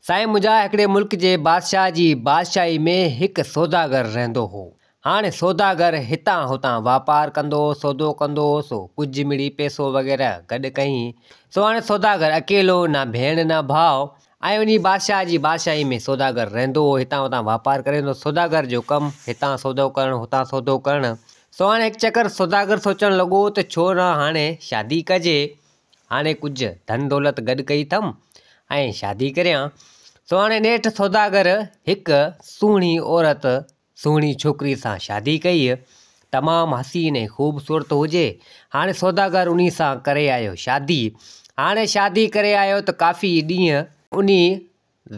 سائين منهنجا هڪڙي ملڪ جي بادشاهه جي بادشاهي ۾ هڪ سوداگر رهندو هو. هاڻي سوداگر هتان هتان واپار ڪندو هو، سودو ڪندو هو سو ڪجهه مڙئي پئسو وغيره گڏ ڪيائين سو هاڻي سوداگر اڪيلو نه ڀيڻ نه ڀاء ۽ انهي بادشاهه جي بادشاهي ۾ سوداگر رهندو هو هتان هتان واپار ڪري ويندو هو سوداگر جو ڪم هتان سودو ڪرڻ هتان سودو ڪرڻ سو هاڻي هڪ چڪر سوداگر سوچڻ لڳو ته ڇو نه هاڻي شادي ڪجي هاڻي ڪجهه ڌن دولت گڏ ڪئي اٿم ۽ شادي ڪريان، سو هاڻي نيٺ سوداگر هڪ سهڻي عورت، سهڻي ڇوڪريء سان شادي ڪئي، تمام حسين ۽ خوبصورت هجي، هاڻي سوداگر انهيء سان ڪري آيو شادي، هاڻي شادي ڪري آيو ته ڪافي ڏينهن انهيء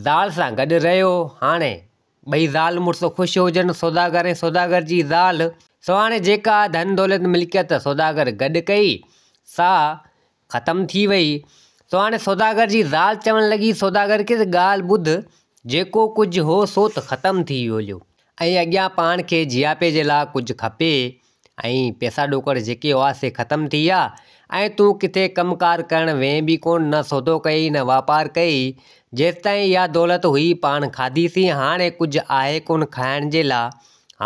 زال سان گڏ رهيو. هاڻي ٻئي زال مڙس خوش هجن، سوداگر ۽ سوداگر جي زال. سهاڻي جيڪا ڌن دولت ملڪيت سوداگر گڏ ڪئي، سا ختم ٿي وئي. سهاڻي سوداگر جي زال چوڻ لڳي، سوداگر کي ته ڳالهه ٻڌ، جيڪو ڪجهه هو سو ته ختم ٿي ويو ۽ اڳيان پاڻ کي جياپي جي لاء ڪجهه کپي، ۽ پئسا ڏوڪڙ جيڪي هئا سي ختم ٿي ويا ۽ تون ڪٿي ڪم ڪار ڪرڻ وئين به ڪونه نه سودو ڪيئي نه واپار ڪيئي جيستائين اها دولت هئي پاڻ کاڌي سين هاڻي ڪجهه آهي ڪونه کائڻ جي لا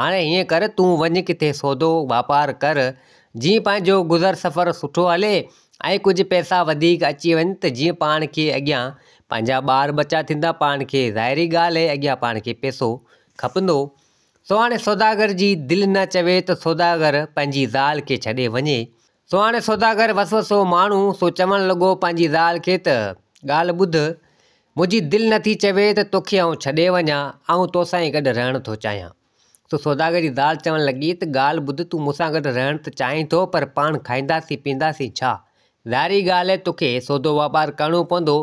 هاڻي هيئن ڪر تون وڃ ڪٿي سودو واپار ڪر جيئن پنهنجو گذر سفر سٺو هلي ۽ ڪجهه پئسا وڌيڪ اچي وڃن ته جيئن پاڻ کي اڳيان پنهنجا ٻار ٻچا ٿيندا پاڻ کي ظاهري ڳالهه اهي اڳيان پاڻ کي پئسو کپندو سو هاڻي سوداگر جي دل نه چوي ته سوداگر پنهنجي زال کي ڇڏي وڃي. سو هاڻي سوداگر وسوسو ماڻهو، سو چوڻ لڳو پنهنجي زال کي ته، ڳالهه ٻڌ، منهنجي دل نه ٿي چوي ته توکي آئون ڇڏي وڃان، آئون توسان ئي گڏ رهڻ ٿو چاهيان. سو سوداگر جي زال چوڻ لڳي ته ڳالهه ٻڌ تون مون سان گڏ رهڻ ته چاهين ٿو پر پاڻ کائينداسين پيئنداسين ڇا؟ ظاهري ڳالهه توکي سودو واپار ڪرڻو پوندو،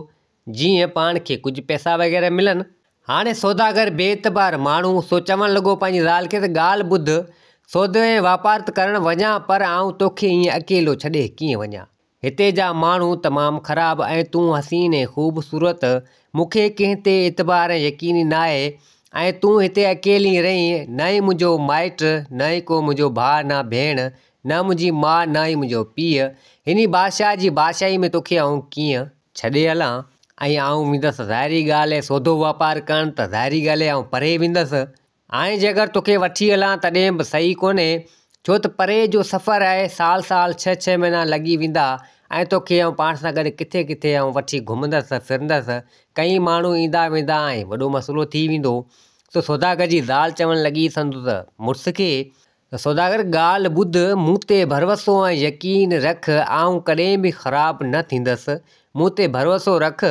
جيئن پاڻ کي ڪجهه پئسا وغيره ملن. هاڻي سوداگر بي اعتبار ماڻهو سو چوڻ لڳو پنهنجي زال کي ته ڳالهه ٻڌ، سودو ۽ واپار ته ڪرڻ وڃان پر آئون توکي ائين اڪيلو ڇڏي ڪيئن وڃان. هتي جا ماڻهو تمام خراب ۽ تون حسين ۽ خوبصورت، مون کي ڪنهن تي اعتبار ۽ يقين ئي ناهي ۽ تون هتي اڪيلي رهين، نه ئي منهنجو مائٽ، نه ئي ڪو منهنجو ڀاء نه ڀيڻ، نه منهنجي ماء نه ئي منهنجو پيء، هني بادشاهه جي بادشاهي ۾ توکي آئون ڪيئن. ڇڏي هلان ۽ آئون ويندس ظاهري ڳالهه اهي سودو واپار ڪرڻ ته ظاهري ڳالهه اهي آئون پري ويندس. هاڻي جي اگر توکي وٺي هلان تڏهن به صحيح ڪونهي ڇو ته پري جو سفر آهي سال سال ڇهه ڇهه مهينا لڳي ويندا ۽ توکي آئون پاڻ سان گڏ ڪٿي ڪٿي آئون وٺي گهمندس ڦرندس ڪئين ماڻهو ايندا ويندا ۽ وڏو مسئلو ٿي ويندو سو سوداگر جي زال چوڻ لڳي سندس مڙس کي ته سوداگر ڳالهه ٻڌ، مون تي ڀروسو ۽ يقين رک، آئون ڪڏهن به خراب نه ٿيندس، مون تي ڀروسو رک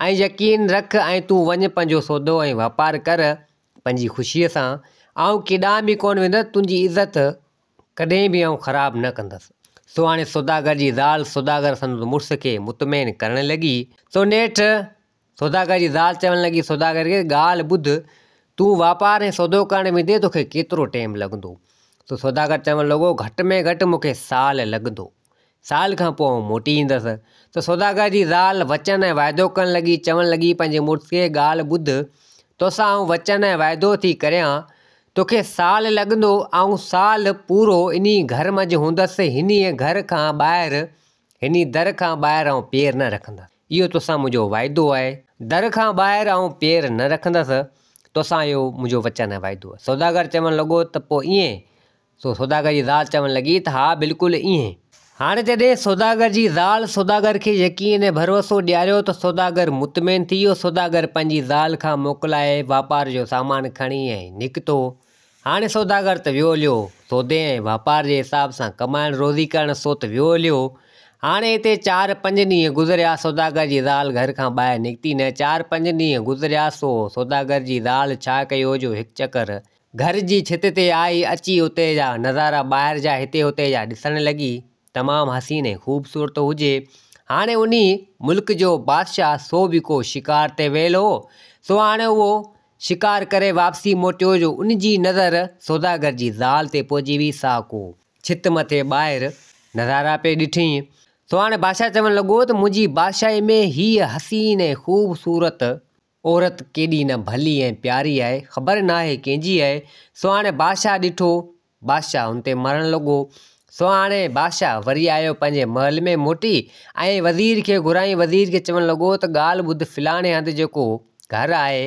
۽ يقين رک ۽ تون وڃ پنهنجو سودو ۽ واپار ڪر پنهنجي خوشيء سان، آئون ڪيڏانهن به ڪونه ويندس، تنهنجي عزت ڪڏهن به آئون خراب نه ڪندس. سو هاڻي سوداگر جي زال سوداگر سندس مڙس کي مطمئن ڪرڻ لڳي. سو نيٺ سوداگر جي زال چوڻ لڳي، سوداگر کي ڳالهه ٻڌ، تون واپار ۽ سودو ڪرڻ ويندين تو کي ڪيترو ٽيم لڳندو؟ سو سوداگر چوڻ لڳو، گهٽ ۾ گهٽ مون کي سال لڳندو. سال کان پوء آئون موٽي ايندس. سو سوداگر جي زال وچن ۽ وعدو ڪرڻ لڳي، چوڻ لڳي، پنهنجي مڙس کي ڳالهه ٻڌ، توسان آئون وچن ۽ وعدو ٿي ڪريان، تو کي سال لڳندو، آئون سال پورو انهي گهر منجهه هوندس، هنيء گهر کان ٻاهر، هني در کان ٻاهر آئون پير نه رکندس. اهو توسان منهنجو وعدو آهي. در کان ٻاهر آئون پير نه رکندس، توسان اهو منهنجو وچن ۽ وعدو آهي. سوداگر چوڻ لڳو ته پوء ائين؟ سو سوداگر جي زال چوڻ لڳي ته ها بلڪل ائين. هاڻ جڏهن سوداگر جي زال سوداگر کي يقين ۽ ڀروسو ڏياريو ته سوداگر مطمئن ٿي ويو. سوداگر پنهنجي زال کان موڪلائي واپار جو سامان کڻي ۽ نڪتو. هاڻي سوداگر ته ويو هليو، سودي ۽ واپار جي حساب سان ڪمائڻ روزي ڪرڻ سو ته ويو هليو. هاڻي هتي چار پنج ڏينهن گذريا سوداگر جي زال گهر کان ٻاهر نڪتي نه، چار پنج ڏينهن گذريا سو سوداگر جي زال ڇا ڪيو جو هڪ چڪر گهر جي ڇت تي آئي، اچي اتي جا نظارا ٻاهر جا هتي هتي جا ڏسڻ لڳي. تمام حسين ۽ خوبصورت هجي. هاڻي انهي ملڪ جو بادشاهه سو به ڪو شڪار تي ويل هو، سو هاڻي اهو شڪار ڪري واپسي موٽيو جو ان جي نظر سوداگر جي زال تي پئجي ويئي سا ڪو ڇت مٿي ٻاهر نظارا پئي ڏٺينء سو هاڻي بادشاهه چوڻ لڳو ته منهنجي بادشاهي ۾ هيء حسين ۽ خوبصورت عورت ڪيڏي نه ڀلي ۽ پياري آهي، خبر ناهي ڪنهن جي آهي. سو هاڻي بادشاهه ڏٺو. بادشاهه هن تي مرڻ لڳو. سو هاڻي بادشاهه وري آيو پنهنجي محل ۾ موٽي ۽ وزير کي گهرايائين. وزير کي چوڻ لڳو ته ڳالهه ٻڌ فلاڻي هنڌ جيڪو گهر آهي،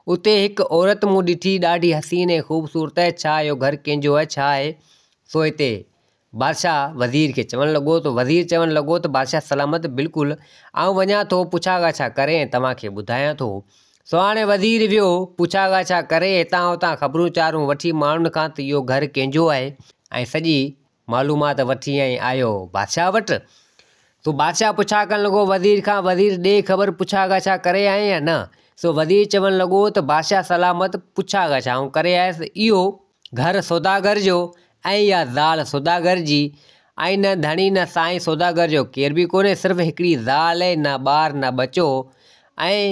اتي هڪ عورت مون ڏٺي، ڏاڍي حسين ۽ خوبصورت آهي. ڇا اهو گهر ڪنهن جو آهي؟ ڇا آهي سو هتي؟ بادشاهه وزير کي چوڻ لڳو ته وزير چوڻ لڳو ته بادشاهه سلامت بلڪل آئون وڃان ٿو پڇا ڳاڇا ڪري ۽ توهان کي ٻڌايان ٿو سو هاڻي وزير ويو پڇا ڳاڇا ڪري هتان هتان خبرون چارون وٺي ماڻهن کان ته اهو گهر ڪنهن جو آهي ۽ سڄي معلومات وٺي ۽ آيو بادشاهه وٽ سو بادشاهه پڇا ڪرڻ لڳو وزير کان وزير ڏي خبر پڇا ڳاڇا ڪري آئين يا نه سو وزير چوڻ لڳو ته بادشاهه سلامت پڇا ڳاڇا آئون ڪري آيس اهو گهر سوداگر جو ۽ يا زال سوداگر جي ۽ نه ڌڻي نه سائين سوداگر جو ڪير به ڪونهي صرف هڪڙي زال اهي نه ٻار نه ٻچو ۽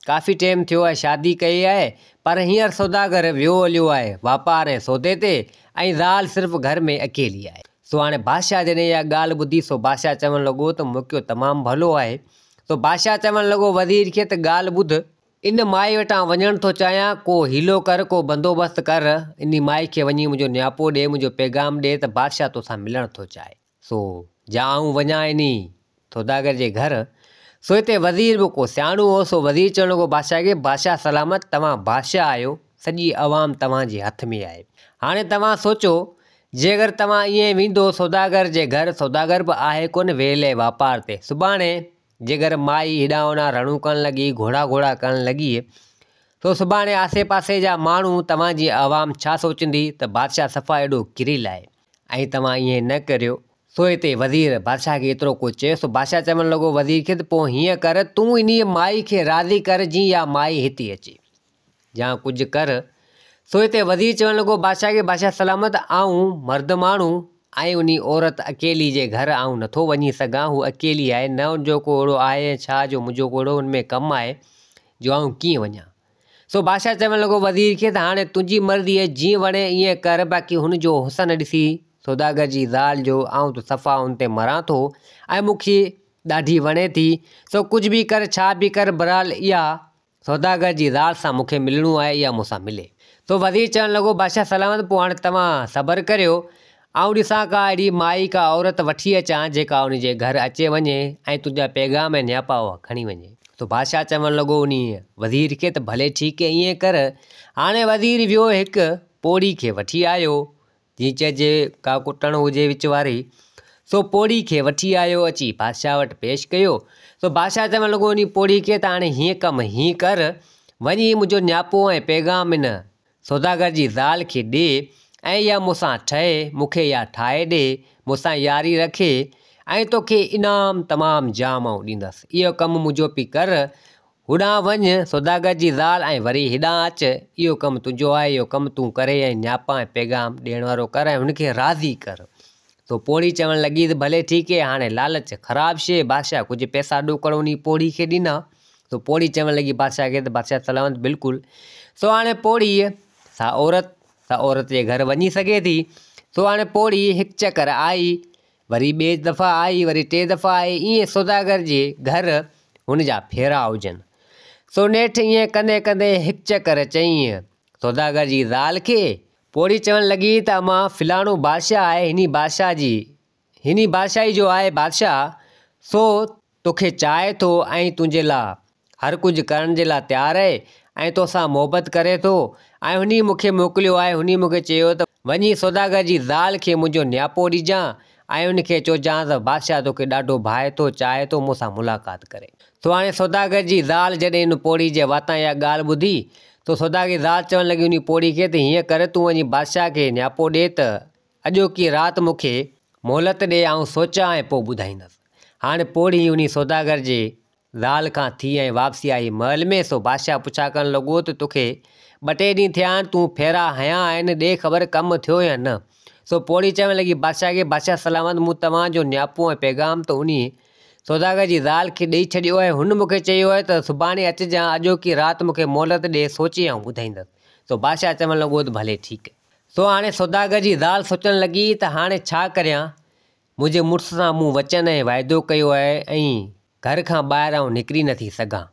ڪافي ٽيم ٿيو آهي شادي ڪئي آهي پر هينئر سوداگر ويو هليو آهي واپار ۽ سودي تي ۽ زال صرف گهر ۾ اڪيلي آهي. سو هاڻي بادشاهه جڏهن اها ڳالهه ٻڌي سو بادشاهه چوڻ لڳو ته موقعو تمام ڀلو آهي سو بادشاهه چوڻ لڳو وزير کي ته ڳالهه ٻڌ ان مائي وٽان وڃڻ ٿو چاهيان، ڪو حيلو ڪر، ڪو بندوبست ڪر، انهي مائي کي وڃي منهنجو نياپو ڏي، منهنجو پيغام ڏي ته بادشاهه توسان ملڻ ٿو چاهي. سو جا آئون وڃان انهي سوداگر جي گهر. سو هتي وزير به ڪو سياڻو هو، سو وزير چوڻ لڳو بادشاهه کي، بادشاهه سلامت، توهان بادشاهه آهيو، سڄي عوام توهان جي هٿ ۾ آهي. هاڻي توهان سوچو، جي اگر توهان ائين ويندو سوداگر جي گهر، سوداگر به آهي ڪونه ويلي واپار تي، سڀاڻي جيڪر مائي هيڏانهن هوڏانهن رڙون ڪرڻ لڳي، گهوڙا گهوڙا ڪرڻ لڳي، سو سڀاڻي آسي پاسي جا ماڻهو، توهان جي عوام ڇا سوچندي ته بادشاهه صفا ايڏو ڪريل آهي ۽ توهان ائين نه ڪريو. سو هتي وزير بادشاهه کي ايترو ڪجهه چيو، سو بادشاهه چوڻ لڳو وزير کي ته پوء هيئن ڪر، تون انهيء مائي کي راضي ڪر جيئن اها مائي هتي اچي. يا ڪجهه ڪر. سو هتي وزير چوڻ لڳو، بادشاهه کي بادشاهه سلامت، آئون مرد ماڻهو ۽ انهي عورت اڪيلي جي گهر آئون نٿو وڃي سگهان، هوء اڪيلي آهي، نه ان جو ڪو اهڙو آهي ۽ ڇا جو منهنجو ڪو اهڙو ان ۾ ڪم آهي جو آئون ڪيئن وڃان. سو بادشاهه چوڻ لڳو وزير کي ته هاڻي تنهنجي مرضي آهي، جيئن وڻي ايئن ڪر، باقي هن جو حسن ڏسي سوداگر جي زال جو آئون ته صفا ان تي مران ٿو ۽ مون کي ڏاڍي وڻي ٿي، سو ڪجهه به ڪر، ڇا به ڪر، بهرحال اها سوداگر جي زال سان مون کي ملڻو آهي، اها مون سان ملي. سو وزير چوڻ لڳو، بادشاهه سلامت، پوء هاڻي توهان صبر ڪريو، آئون ڏسان ڪا اهڙي مائي، ڪا عورت وٺي اچان، جيڪا انهيء جي گهر اچي وڃي ۽ تنهنجا پيغام ۽ نياپا اها کڻي وڃي. سو بادشاهه چوڻ لڳو انهيء وزير کي ته ڀلي ٺيڪ ايئن ڪر. هاڻي وزير ويو هڪ پوڙهي کي وٺي آيو، جيئن چئجي ڪا ڪٽڻ هجي وچ واري. سو پوڙهي کي وٺي آيو اچي بادشاهه وٽ پيش ڪيو. سو بادشاهه چوڻ لڳو انهي پوڙهي کي ته هاڻي هيئن ڪم هيئن ڪر وڃ هي منهنجو نياپو ۽ پيغام ان سوداگر جي زال کي ڏي ۽ اها مون سان ٺهي مون کي اها ٺاهي ڏي مون سان ياري رکي ۽ توکي انعام تمام جام آئون ڏيندس اهو ڪم منهنجو پي ڪر هوڏانهن وڃ، سوداگر جي زال، ۽ وري هيڏانهن اچ، اهو ڪم تنهنجو آهي، اهو ڪم تون ڪر ۽ نياپا ۽ پيغام ڏيڻ وارو ڪر ۽ هن کي راضي ڪر. سو پوڙهي چوڻ لڳي ته ڀلي ٺيڪ هي، هاڻي لالچ خراب شيء، بادشاهه ڪجهه پئسا ڏوڪڙ انهي پوڙهي کي ڏنا. سو پوڙهي چوڻ لڳي بادشاهه کي ته بادشاهه سلامت بلڪل. سو هاڻي پوڙهيء، سا عورت، سا عورت جي گهر وڃي سگهي ٿي. سو هاڻي پوڙهي هڪ چڪر آئي، وري ٻي دفعا آئي وري ٽي دفعا آئي ائين سوداگر جي گهر هن جا ڦيرا هجن سو نيٺ ائين ڪندي ڪندي هڪ چڪر چينء سوداگر جي زال کي پوڙهي چوڻ لڳي ته اما فلاڻو بادشاهه آهي هني بادشاهه جي هني بادشاهي جو آهي بادشاهه سو توکي چاهي ٿو ۽ تنهنجي لاء هر ڪجهه ڪرڻ جي لاء تيار آهي ۽ توسان محبت ڪري ٿو ۽ هنئي مون کي موڪليو آهي هنئي مون کي چيو ته وڃي سوداگر جي زال کي منهنجو نياپو ڏجان ۽ ان کي چوجانس ته بادشاهه توکي ڏاڍو ڀائي ٿو چاهي ٿو مون سان ملاقات ڪري ٿو هاڻي سوداگر جي زال جڏهن ان پوڙهي جي واتان اها ڳالهه ٻڌي ته سوداگر جي زال چوڻ لڳي انهي پوڙهي کي ته هيئن ڪر تون وڃي بادشاهه کي نياپو ڏي ته اڄوڪي رات مون کي مهلت ڏي آئون سوچان ۽ پوء ٻڌائيندس. هاڻ پوڙهي انهي سوداگر جي زال کان ٿي ۽ واپسي آئي محل ۾ سو بادشاهه پڇا ڪرڻ لڳو ته توکي ٻه ٽي ڏينهن ٿيا آهن تون ڦيرا هنيا آهن ڏي خبر ڪم ٿيو يا نه. سو پوڙهي چوڻ لڳي بادشاهه کي بادشاهه سلامت مون توهان جو نياپو ۽ پيغام ته انهي سوداگر جي زال کي ڏئي ڇڏيو آهي هن مون کي چيو آهي ته سڀاڻي اچجان اڄوڪي رات مون کي مهلت ڏي سوچي آئون ٻڌائيندس. سو بادشاهه چوڻ لڳو ته ڀلي ٺيڪ سو هاڻي سوداگر جي زال سوچڻ لڳي ته هاڻي ڇا ڪريان؟ منهنجي مڙس سان مون وچن ۽ وعدو ڪيو آهي ۽ گهر کان ٻاهر آئون نڪري نه ٿي سگهان.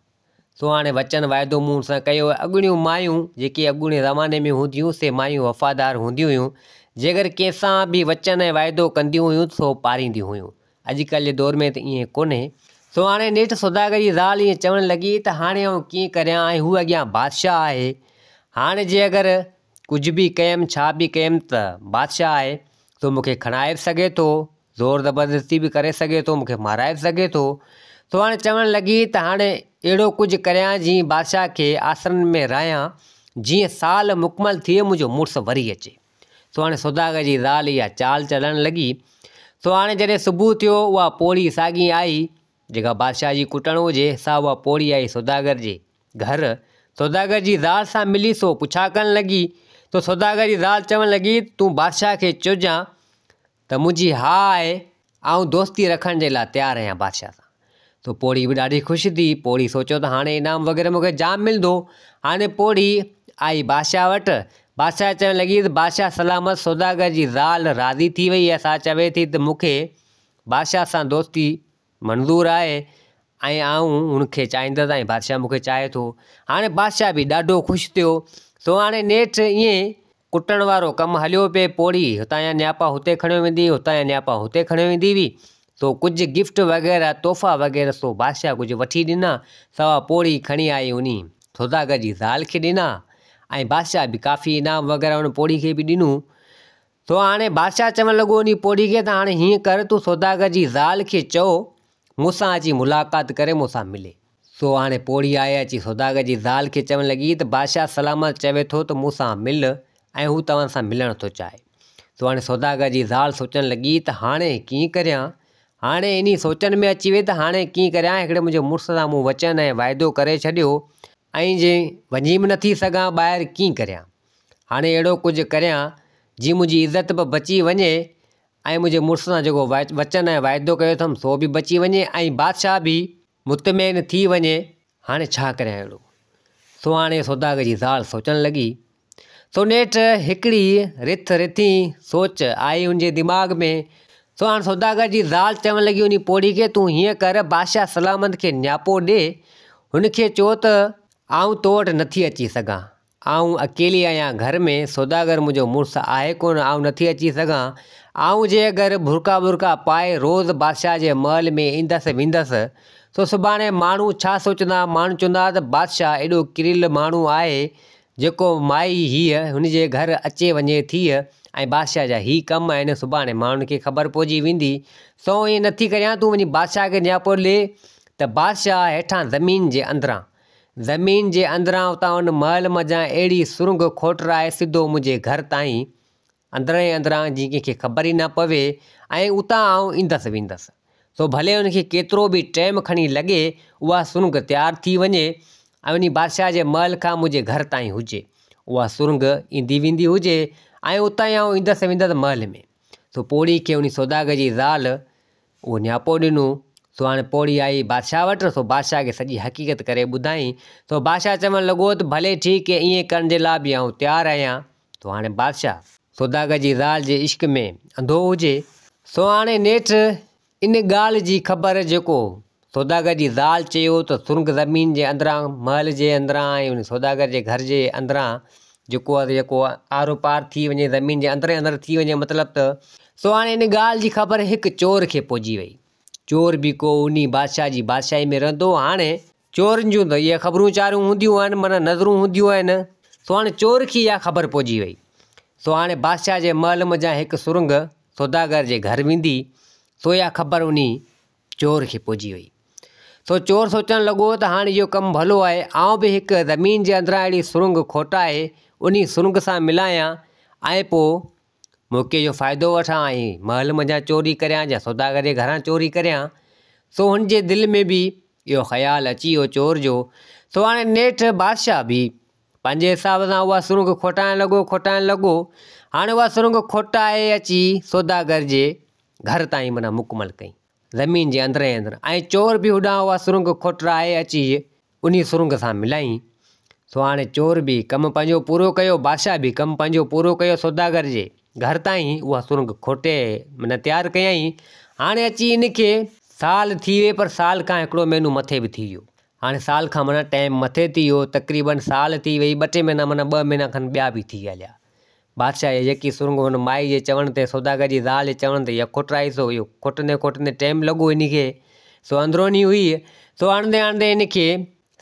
سو هاڻي وچن وعدو مون سان ڪيو آهي. اڳوڻيون مايون جيڪي اڳوڻي زماني ۾ هونديون سي مايون وفادار هونديون هيون. جيڪر ڪنهن سان به وچن ۽ وعدو ڪنديون هيون ته سو پارينديون هيون. اڄڪلهه جي دور ۾ ته ائين ڪونهي. سو هاڻي نيٺ سوداگر جي زال ائين چوڻ لڳي ته هاڻي آئون ڪيئن ڪريان ۽ هو اڳيان بادشاهه آهي. هاڻي جي اگر ڪجهه به ڪيم ڇا به ڪيم ته بادشاهه آهي سو مون کي کڻائي به سگهي ٿو زور زبردستي به ڪري سگهي ٿو مون کي مارائي به سگهي ٿو سو هاڻي چوڻ لڳي ته هاڻي اهڙو ڪجهه ڪريان جيئن بادشاهه کي آسرن ۾ رهيان جيئن سال مڪمل ٿئي منهنجو مڙس وري اچي سو هاڻي سوداگر جي زال اها چال چلڻ لڳي سو هاڻي جڏهن صبح ٿيو اها پوڙهي ساڳي آئي جيڪا بادشاهه جي ڪٽڻ هجي، سا اها پوڙهي آئي سوداگر جي گهر، سوداگر جي زال سان ملي سو پڇا ڪرڻ لڳي تو سوداگر جي زال چوڻ لڳي، تون بادشاهه کي چئجان ته منهنجي ها آهي، آئون دوستي رکڻ جي لاء تيار آهيان بادشاهه سان. تو پوڙهي به ڏاڍي خوش ٿي، پوڙهي سوچيو ته هاڻي انعام وغيره مون کي جام ملندو، هاڻي پوڙهي آئي بادشاهه وٽ، بادشاهه چوڻ لڳي ته بادشاهه سلامت سوداگر جي زال راضي ٿي وئي آهي، سا چوي ٿي ته مون کي بادشاهه سان دوستي منظور آهي ۽ آئون هن کي چاهيندس ۽ بادشاهه مون کي چاهي ٿو. هاڻي بادشاهه به ڏاڍو خوش ٿيو. سو هاڻي نيٺ ائين ڪٽڻ وارو ڪم هليو پئي. پوڙهي هتان يا نياپا هتي کڻيو ويندي هئي، هتان يا نياپا هتي کڻيو ويندي هئي. سو ڪجهه گفٽ وغيره، تحفا وغيره سو بادشاهه ڪجهه وٺي ڏنا. سوا پوڙهي کڻي آئي انهي سوداگر جي زال کي ڏنا ۽ بادشاهه به ڪافي انعام وغيره ان پوڙهي کي به ڏنو. سو هاڻي بادشاهه چوڻ لڳو انهي پوڙهي کي ته هاڻي هيئن ڪر تون سوداگر جي زال کي چئو مون سان اچي ملاقات ڪري مون سان ملي. سو هاڻي پوڙهي آئي اچي سوداگر جي زال کي چوڻ لڳي ته بادشاهه سلامت چوي ٿو ته مون سان مل ۽ هو توهان سان ملڻ ٿو چاهي. سو هاڻي سوداگر جي زال سوچڻ لڳي ته هاڻي ڪيئن ڪريان؟ هاڻي انهي سوچن ۾ اچي وئي ته هاڻي ڪيئن ڪريان هڪڙي منهنجي مڙس سان مون وچن ۽ واعدو ڪري ڇڏيو ۽ جي وڃي به نٿي سگهان ٻاهر ڪيئن ڪريان؟ هاڻي اهڙو ڪجهه ڪريان، جيئن منهنجي عزت به بچي وڃي ۽ منهنجي مڙس سان جيڪو وچن ۽ واعدو ڪيو اٿم، سو به بچي وڃي ۽ بادشاهه به مطمئن ٿي وڃي. هاڻي ڇا ڪريان اهڙو؟ سو هاڻي سوداگر جي زال سوچڻ لڳي. سو نيٺ هڪڙي رٿ رٿين سوچ آئي ان جي دماغ ۾. سو هاڻي سوداگر جي زال چوڻ لڳي انهي پوڙهي کي، تون هيئن ڪر، بادشاهه سلامت کي نياپو ڏي. هن کي چئو ته آئون تو وٽ نٿي اچي سگهان. آئون اڪيلي آهيان گهر ۾ سوداگر منهنجو مڙس آهي ڪونه آئون نٿي اچي سگهان آئون جي اگر برقعا ٻرقعا پائي روز بادشاهه جي محل ۾ ايندس ويندس سو سڀاڻي ماڻهو ڇا سوچندا ماڻهو چوندا ته بادشاهه ايڏو ڪريل ماڻهو آهي جيڪو مائي هيء هن جي گهر اچي وڃي ٿيء ۽ بادشاهه جا هي ڪم آهن سڀاڻي ماڻهن کي خبر پئجي ويندي سو ائين نٿي ڪريان تون وڃي بادشاهه کي نياپو ڏي ته بادشاهه هيٺان زمين جي اندران زمين جي اندران اتان ان محل منجهان اهڙي سرنگهه کوٽرائي سڌو منهنجي گهر تائين، اندران ئي اندران جيئن ڪنهن کي خبر ئي نه پوي ۽ اتان آئون ايندس ويندس، سو ڀلي ان کي ڪيترو به ٽيم کڻي لڳي اها سرنگهه تيار ٿي وڃي ۽ انهي بادشاهه جي محل کان منهنجي گهر تائين هجي. اها سرنگهه ايندي ويندي هجي ۽ اتان ئي آئون ايندس ويندس محل ۾. سو پوڙهي کي انهي سوداگر جي زال اهو نياپو ڏنو. سو هاڻي پوڙهي آئي بادشاهه وٽ، سو بادشاهه کي سڄي حقيقت ڪري ٻڌائين. سو بادشاهه چوڻ لڳو ته ڀلي ٺيڪ اهي، ائين ڪرڻ جي لاء به آئون تيار آهيان. سو هاڻي بادشاهه. سوداگر جي زال جي عشق ۾ انڌو هجي. سو هاڻي نيٺ ان ڳالهه جي خبر جيڪو سوداگر جي زال چيو ته سرنگ زمين جي اندران محل جي اندران ۽ ان سوداگر جي گهر جي اندران جيڪو آهي جيڪو آرو پار ٿي وڃي زمين جي اندر ئي اندر ٿي وڃي مطلب ته سو هاڻي ان ڳالهه جي خبر هڪ چور کي پئجي وئي چور به ڪو انهي بادشاهه جي بادشاهي ۾ رهندو هو هاڻي چورن جون ته اهي خبرون چارون هونديون آهن معنيٰ نظرون هونديون آهن سو هاڻي چور کي اها خبر پئجي وئي سو هاڻي بادشاهه جي محل منجهان هڪ سرنگ سوداگر جي گهر ويندي سو اها خبر انهي چور کي پڄي وئي. سو چور سوچڻ لڳو ته هاڻ اهو ڪم ڀلو آهي، آئون به هڪ زمين جي اندران اهڙي سرنگهه کوٽائي انهي سرنگهه سان ملايان ۽ پوء موقعي جو فائدو وٺان ۽ محل منجهان چوري ڪريان يا سوداگر جي گهران چوري ڪريان. سو هن جي دل ۾ به اهو خيال اچي ويو چور جو. سو هاڻي نيٺ بادشاهه به پنهنجي حساب سان اها سرنگهه کوٽائڻ لڳو، کوٽائڻ لڳو، هاڻي اها سرنگهه کوٽائي اچي سوداگر جي گهر تائين معنيٰ مڪمل ڪئي، زمين جي اندر ئي اندر، ۽ چور به هوڏانهن اها سرنگهه کوٽرائي اچي انهيء سرنگهه سان ملائين، سو هاڻي چور به ڪم پنهنجو پورو ڪيو، بادشاهه به ڪم پنهنجو پورو ڪيو، سوداگر جي گهر تائين اها سرنگهه کوٽي معنيٰ تيار ڪيائين، هاڻي اچي ان کي سال ٿي ويئي پر سال کان هڪڙو مهينو مٿي به ٿي ويو، هاڻي سال کان معنيٰ ٽائيم مٿي ٿي ويو تقريبن سال ٿي وئي ٻه ٽي مهينا معنيٰ ٻه مهينا کن ٻيا به ٿي هليا بادشاهه جي يڪي سرنگهو هن مائي جي چوڻ تي سوداگر جي زال جي چوڻ تي يڪ کوٽرائي سو اهو کوٽندي کوٽندي ٽائيم لڳو هن کي سو اندروني هئي سو آڻندي آڻندي هن کي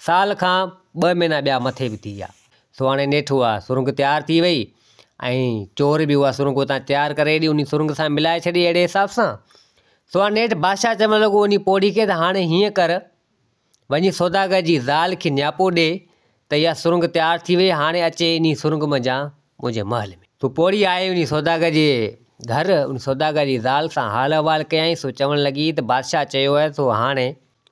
سال کان ٻه مهينا ٻيا مٿي به ٿي ويا سو هاڻي نيٺ اها سرنگهه تيار ٿي وئي ۽ چور به اها سرنگهه اتان تيار ڪري ايڏي ان سرنگهه سان ملائي ڇڏي اهڙي حساب سان سو هاڻي نيٺ بادشاهه چوڻ لڳو ان پوڙهي کي ته هاڻي هيئن ڪر وڃي سوداگر جي زال کي نياپو ڏي ته اها سرنگ تيار ٿي وئي هاڻي اچي انهي سرنگ منجهان منهنجي محل ۾. سو پوڙهي آئي انهي سوداگر جي گهر انهي سوداگر جي زال سان حال احوال ڪيائين سو چوڻ لڳي ته بادشاهه چيو آهي سو هاڻي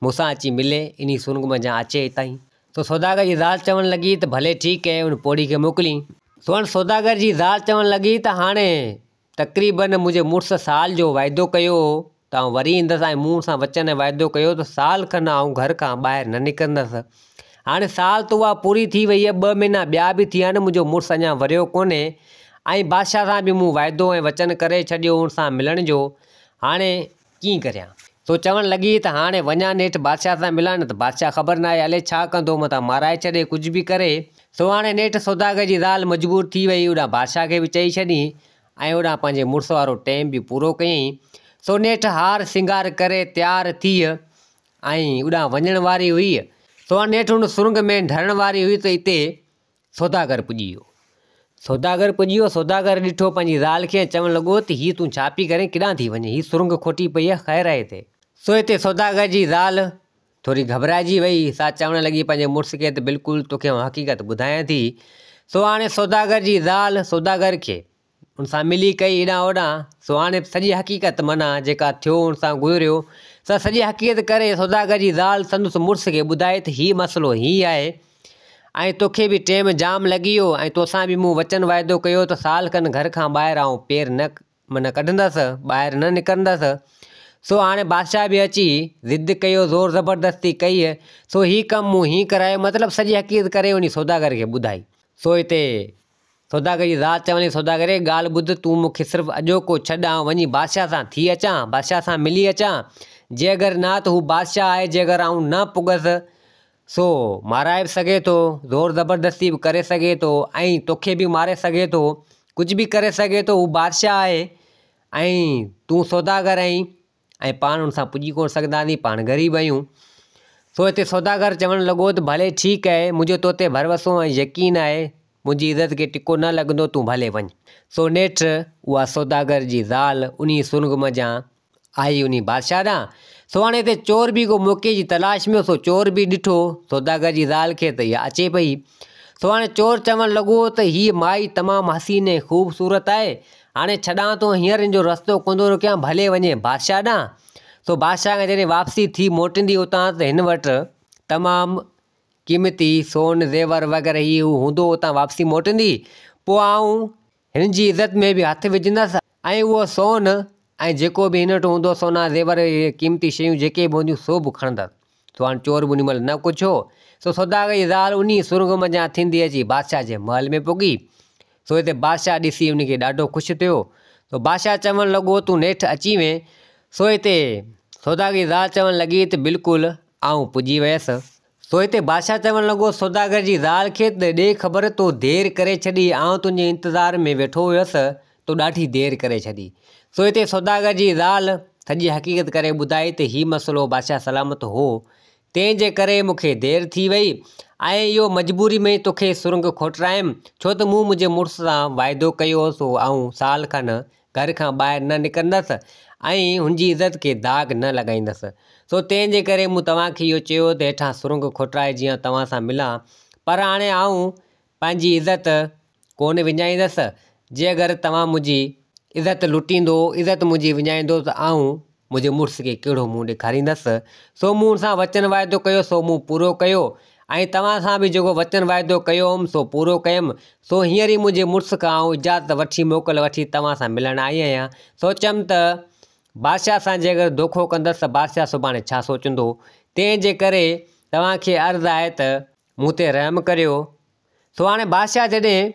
مون سان اچي ملي انهي سرنگ منجهان اچي اتاهين. سو سوداگر جي زال چوڻ لڳي ته ڀلي ٺيڪ ڪئين انهي پوڙهي کي موڪلين. سو انهي سوداگر جي زال چوڻ لڳي ته هاڻي تقريبن منهنجي مڙس سال جو وعدو ڪيو هو ته آئون وري ايندس ۽ مون ان سان وچن ۽ وعدو ڪيو ته سال کن آئون گهر کان ٻاهر نه نڪرندس. هاڻي سال ته اها پوري ٿي وئي هئي، ٻه مهينا ٻيا به ٿي آهن، منهنجو مڙس اڃا وريو ڪونهي ۽ بادشاهه سان به مون وعدو ۽ وچن ڪري ڇڏيو هو ان سان ملڻ جو. هاڻي. ڪيئن ڪريان؟ سو چوڻ لڳي ته هاڻي وڃان نيٺ بادشاهه سان ملان نه ته بادشاهه خبر ناهي الي ڇا ڪندو متان مارائي ڇڏي ڪجهه به ڪري. سو هاڻي نيٺ سوداگر جي زال مجبور ٿي وئي اوڏانهن بادشاهه کي به چئي ڇڏيئين ۽ اوڏانهن پنهنجي مڙس وارو ٽيم به پورو ڪيئين. سو نيٺ هار سينگار ڪري تيار ٿيء ۽ اوڏانهن وڃڻ واري هئي. سو هاڻي نيٺ هن سرنگ ۾ ڍرڻ واري هئي ته اتي سوداگر پڄي ويو. سوداگر پڄي ويو. سوداگر ڏٺو پنهنجي زال کي ۽ چوڻ لڳو ته هيء تون ڇا پئي ڪرين؟ ڪيڏانهن ٿي وڃين؟ هيء سرنگهه کوٽي پئي آهي، خير آهي هتي؟ سو هتي سوداگر جي زال ٿوري گهٻرائجي ويئي. سا چوڻ لڳي پنهنجي مڙس کي ته بلڪل توکي آئون حقيقت ٻڌايان ٿي. سو هاڻي سوداگر جي زال سوداگر کي ان سان ملي ڪئي هيڏانهن هوڏانهن، سو هاڻي سڄي حقيقت معنيٰ جيڪا ٿيو ان سان گذريو، سا سڄي حقيقت ڪري سوداگر جي زال سندس مڙس کي ٻڌائي ته هي مسئلو هي آهي ۽ توکي به ٽيم جام لڳي ويو ۽ توسان به مون وچن وعدو ڪيو ته سال کن گهر کان ٻاهر آئون پير نه معنيٰ ڪڍندس، ٻاهر نه نڪرندس، سو هاڻي بادشاهه به اچي ضد ڪيو، زور زبردستي ڪئي، سو هي ڪم مون هيئن ڪرايو مطلب سڄي حقيقت ڪري انهي سوداگر کي ٻڌائي، سو هتي. سوداگري ذات چوندي، سوداگري! ڳالهه ٻڌ، تون مون کي صرف اڄوڪو ڇڏ، آئون وڃي بادشاهه سان ٿي اچان، بادشاهه سان ملي اچان، جي اگر نه ته هو بادشاهه آهي، جي اگر آئون نه پڳس، سو مارائي به سگهي ٿو، زور زبردستي به ڪري سگهي ٿو، ۽ توکي به ماري سگهي ٿو، ڪجهه به ڪري سگهي ٿو، هو بادشاهه آهي، ۽ تون سوداگر آهين، ۽ پاڻ ان سان پڄي ڪونه سگهنداسين، پاڻ غريب آهيون. سو هتي سوداگر چوڻ لڳو ته ڀلي ٺيڪ آهي، منهنجو تو تي ڀروسو ۽ يقين آهي، منهنجي عزت کي ٽڪو نه لڳندو، تون ڀلي وڃ. سو نيٺ اها سوداگر جي زال انهيء سرنگهه منجهان آئي انهيء بادشاهه ڏانهن. سو هاڻي هتي چور به ڪو موقعي جي تلاش ۾ هو، سو چور به ڏٺو سوداگر جي زال کي ته اها اچي پئي. سو هاڻي چور چوڻ لڳو ته هيء مائي تمام حسين ۽ خوبصورت آهي، هاڻي ڇڏان ٿو هينئر ان جو رستو ڪوندو روڪيان، ڀلي وڃي بادشاهه ڏانهن. سو بادشاهه کان جڏهن واپسي ٿي موٽيندي اتان ته هن وٽ تمام قيمتي سون، زيور وغيره هي هو هوندو اتان واپسي موٽيندي پوء آئون هن جي عزت ۾ به هٿ وجهندس ۽ اهو سون ۽ جيڪو به هن وٽ هوندو سونا زيور قيمتي شيون جيڪي به هونديون سو به کڻندس. سو هاڻ چور انهي مهل نه ڪڇيو. سو سوداگريء جي زال انهي سرنگهه منجهان ٿيندي اچي بادشاهه جي محل ۾ پڳي. سو هتي بادشاهه ڏسي انهي کي ڏاڍو خوش ٿيو. سو بادشاهه چوڻ لڳو تون نيٺ اچي وئين. سو هتي سوداگريء جي زال چوڻ لڳي ته بلڪل آئون پڄي ويس. سو هتي بادشاهه چوڻ لڳو سوداگر جي زال کي ته ڏي خبر تو دير ڪري ڇڏي آئون تنهنجي انتظار ۾ ويٺو هيس تو ڏاڍي دير ڪري ڇڏي. سو اتي سوداگر جي زال سڄي حقيقت ڪري ٻڌائي ته هي مسئلو بادشاهه سلامت هو، تنهن جي ڪري مون کي دير ٿي وئي ۽ اهو مجبوري ۾ توکي سرنگ کوٽرايم، ڇو ته مون منهنجي مڙس سان واعدو ڪيو هو سو آئون سال کن گهر کان ٻاهر نه نڪرندس ۽ هن جي عزت کي داغ نه لڳائيندس. سو تنهن جي ڪري مون توهان کي اهو چيو ته هيٺان سرنگ کوٽرائي جيئن توهان سان ملان، پر هاڻي آئون پنهنجي عزت ڪونه وڃائيندس، جي اگر توهان منهنجي عزت لٽيندو، عزت منهنجي وڃائيندو ته آئون منهنجي مڙس کي ڪهڙو منهن ڏيکاريندس؟ سو مون ان سان وچن واعدو ڪيو، سو مون پورو ڪيو، ۽ توهان سان به جيڪو وچن واعدو ڪيو هوم، سو پورو ڪيم، سو هينئر ئي منهنجي مڙس کان آئون اجازت وٺي، موڪل وٺي توهان سان ملڻ آئي آهيان. سوچيم ته بادشاهه سان جي اگر دوکو ڪندس ته بادشاهه سڀاڻي ڇا سوچيندو؟ تنهن جي ڪري توهان کي عرض آهي ته مون تي رحم ڪريو. سو هاڻي بادشاهه جڏهن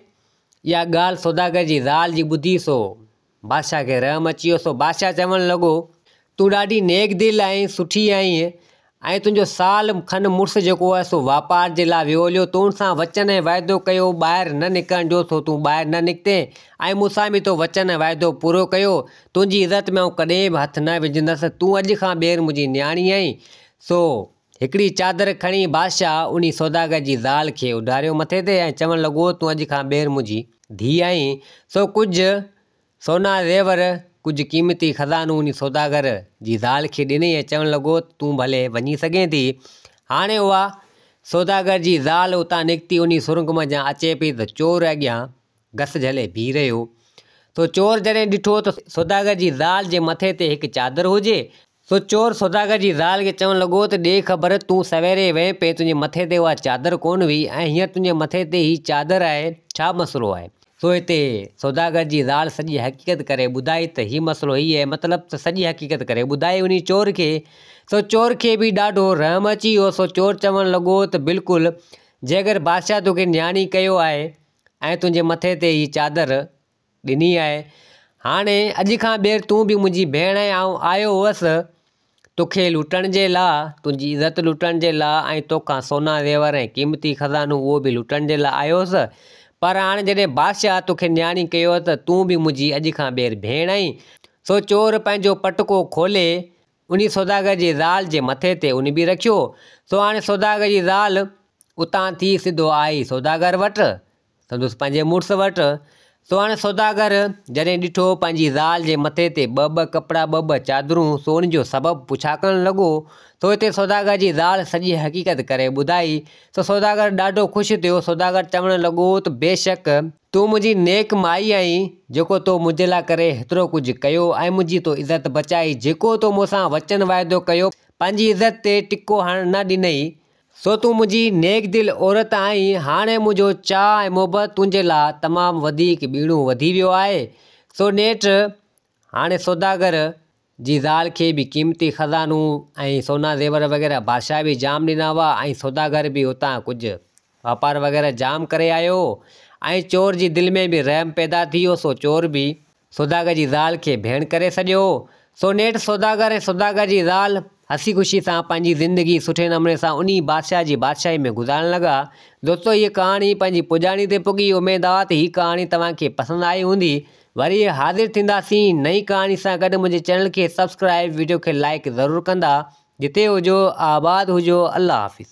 اها ڳالهه سوداگر جي زال جي ٻڌي سو بادشاهه کي رحم اچي ويو سو بادشاهه چوڻ لڳو، تون ڏاڍي نيڪ دل ۽ سٺي آهين ۽ تنهنجو سال کن مڙس جيڪو هو سو واپار جي لاء ويو هليو تون سان وچن ۽ وعدو ڪيو هو ٻاهر نه نڪرڻ جو سو تون ٻاهر نه نڪتين ۽ مون سان به تو وچن ۽ وعدو پورو ڪيو تنهنجي عزت ۾ آئون ڪڏهن به هٿ نه وجهندس تون اڄ کان ٻيهر منهنجي نياڻي آهين سو هڪڙي چادر کڻي بادشاهه انهي سوداگر جي زال کي اڍاريو مٿي تي ۽ چوڻ لڳو، تون اڄ کان ٻيهر منهنجي ڌيء آهين، سو ڪجهه سونا زيور، ڪجهه قيمتي خزانو انهي سوداگر جي زال کي ڏنئي ۽ چوڻ لڳو ته تون ڀلي وڃي سگهين ٿي. هاڻي اها سوداگر جي زال اتان نڪتي انهي سرنگ منجهان اچي پئي ته چور اڳيان گس جهلي بيهي رهيو. سو چور جڏهن ڏٺو ته سوداگر جي زال جي مٿي تي هڪ چادر هجي. سو چور سوداگر جي زال کي چوڻ لڳو ته ڏي خبر تون سويري وئين پئين تنهنجي مٿي تي اها چادر ڪونه هئي ۽ هينئر تنهنجي مٿي تي هي چادر آهي ڇا مسئلو آهي؟ سو هتي سوداگر جي زال سڄي حقيقت ڪري ٻڌائي ته هي مسئلو هي اهي مطلب ته سڄي حقيقت ڪري ٻڌائي انهي چور کي. سو چور کي به ڏاڍو رحم اچي ويو سو چور چوڻ لڳو ته بلڪل جي اگر بادشاهه توکي نياڻي ڪيو آهي ۽ تنهنجي مٿي تي هيء چادر ڏني آهي. هاڻي اڄ کان ٻيهر تون به منهنجي ڀيڻ ۽ آئون آيو هوس توکي لٽڻ جي لاء، تنهنجي عزت لٽڻ جي لاء ۽ توکان سونا زيور ۽ قيمتي خزانو اهو به لٽڻ جي لاء آيو هوس، پر هاڻي جڏهن بادشاهه توکي نياڻي ڪيو آهي ته تون به منهنجي اڄ کان ٻيهر ڀيڻ آهين. سو چور پنهنجو پٽڪو کولي انهيء سوداگر جي زال جي مٿي تي اڃ به رکيو. سو هاڻي سوداگر جي زال اتان ٿي سڌو آئي سوداگر وٽ، سندس پنهنجي مڙس وٽ. سو هاڻي سوداگر جڏهن ڏٺو پنهنجي زال جي مٿي تي ٻه ٻه ڪپڙا، ٻه ٻه چادرون، سو ان جو سبب پڇاڪڻ لڳو. سو هتي سوداگر جي زال سڄي حقيقت ڪري ٻڌائي. سو سوداگر ڏاڍو خوش ٿيو. سوداگر چوڻ لڳو ته بيشڪ! تون منهنجي نيڪ مائي آهين، جيڪو تو منهنجي لاء ڪري هيترو ڪجهه ڪيو ۽ منهنجي تو عزت بچائي، جيڪو تو مون سان وچن وعدو ڪيو، پنهنجي عزت تي ٽڪو هڻڻ نه ڏنئي، سو تون منهنجي نيڪ دل عورت آهين، هاڻي منهنجو چاهه ۽ محبت تنهنجي لاء تمام وڌيڪ ٻيڻو وڌي ويو آهي، سو نيٺ هاڻي سوداگر جي زال کي به قيمتي خزانون ۽ سونا زيور وغيره بادشاهه به جام ڏنا هئا ۽ سوداگر به اتان ڪجهه واپار وغيره جام ڪري آيو هو ۽ چور جي دل ۾ به رحم پيدا ٿي ويو سو چور به سوداگر جي زال کي ڀيڻ ڪري سڏيو هو سو نيٺ سوداگر ۽ سوداگر جي زال هسي خوشي سان پنهنجي زندگي سٺي نموني سان انهي بادشاهه جي بادشاهي ۾ گذارڻ لڳا دوستو هيء ڪهاڻي پنهنجي پڄاڻي تي پڳي اميد آ ته هي ڪهاڻي توهان کي پسند آئي هوندي وري حاضر ٿينداسين نئين ڪهاڻي سان گڏ منهنجي چينل کي سبسڪرائب وڊيو کي لائڪ ضرور ڪندا جتي هجو آباد هجو الله حافظ.